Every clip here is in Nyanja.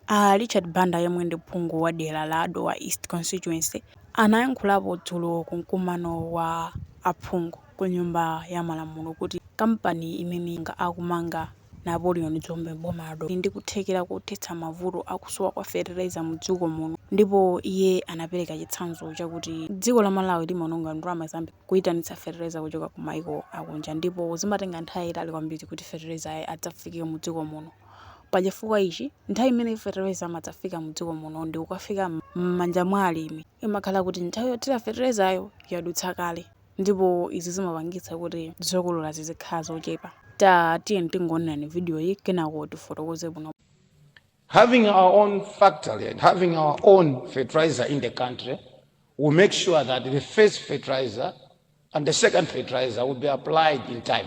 A Richard Banda yemwe ndi phungu wa dera la Dowa East Constituency anayankhulapo dzulo ku mkumano wa aphungu ku nyumba ya malamulo kuti kampani imene akumanga Napoleon Dzombe m'boma la Dowa ili ndi kuthekera kothetsa mavuto a kusowa kwa fetereza mu dziko muno ndipo iye anapereka chitsanzo chakuti dziko la Malawi limaononga ndalama zambiri kuitanitsa fetereza kuchoka ku maiko akunja ndipo zimatenga nthawi yaitali kwambiri kuti fetereza adzafike mu dziko muno. Pa chifukwa ichi, nthawi imene fetereza amadzafika mu dziko muno ndi kukafika mmanja mwa alimi, imakhala kuti nthawi yothira feterezayo yadutsa kale ndipo izi zimapangitsa kuti zokolora zizikhala zochepa. Ta tiyeni tingoonerani video yi kenako tifotokoze bwino. Having our own factory and having our own fertilizer in the country will make sure that the first fertilizer and the second fertilizer will be applied in time.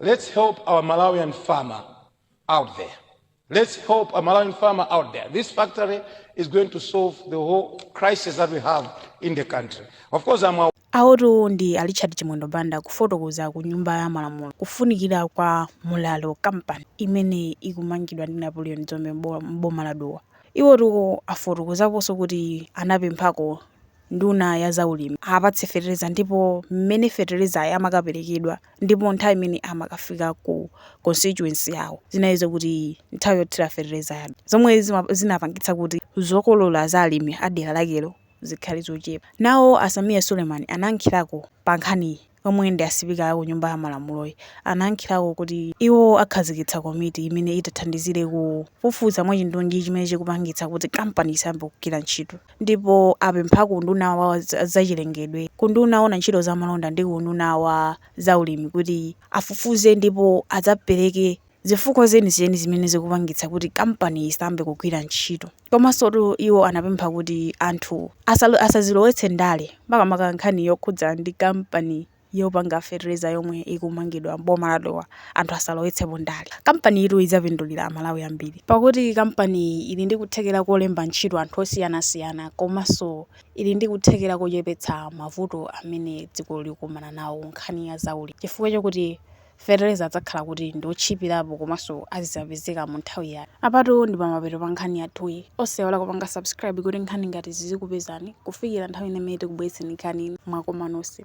Let's help our Malawian farmer out there. Let's help our Malawian farmer out there. This factory is going to solve the whole crisis that we have in the country. Of course, I'm aware. Awotu ndi a Richard Chimwendo Banda kufotokoza ku nyumba ya malamulo kufunikira kwa Mulalo kampani imene ikumangidwa ndi Napoleon Dzombe m'bo- m'boma la Dowa. Iwotu afotokozaponso kuti anapemphako nduna ya zaulimi apatse fetereza ndipo mmene feterezayi amakaperekedwa Ndipo nthawi imene amakafika ku constituency yawo zinali zokuti nthawi yothira fetereza yatha, zomwe zinapangitsa kuti zokolola za alimi a dera lakelo zikhale zochepa. Nawo a Sameer Suleiman anayankhirako pa nkhaniyi, omwe ndi a sipika ku nyumba ya malamuloyi. Anayankhirako kuti iwo akhazikitsa komiti imene itathandizire kufufuza mwachindunji chimene chikupangitsa kuti kampani isayambe kugwira ntchito. ndipo apempha ku unduna wa zachilengedwe, ku unduna owona ntchito za malonda ndi ku unduna wa za ulimi kuti afufuze ndipo adzapereke zifukwa zenizeni zimene zikupangitsa kuti kampaniyi isayambe kugwira ntchito. Komansotu iwo anapempha kuti anthu asazilowetse ndale makamaka nkhani yokhudza ndi kampaniyi. yopanga fetereza yomwe ikumangidwa m'boma la Dowa anthu asalowetsepo ndale. Kampaniyitu idzapindulira Amalawi ambiri. Pakuti kampaniyi ili ndi kuthekera kolemba ntchito anthu osiyanasiyana komanso ili ndi kuthekera kochepetsa mavuto amene dziko likukumana nawo kunkhani ya zaulimi chifukwa chokuti fetereza adzakhala kuti ndi otchipirapo komanso azizapezeka mu nthawi yake. Apatu ndi pamapeto pa nkhani yathuyi. Osaiwala kupanga subscribe kuti nkhani ngati izi zizikupezani kufikira nthawi ina imene tikubweretseni nkhani ina. Mwakoma nonse.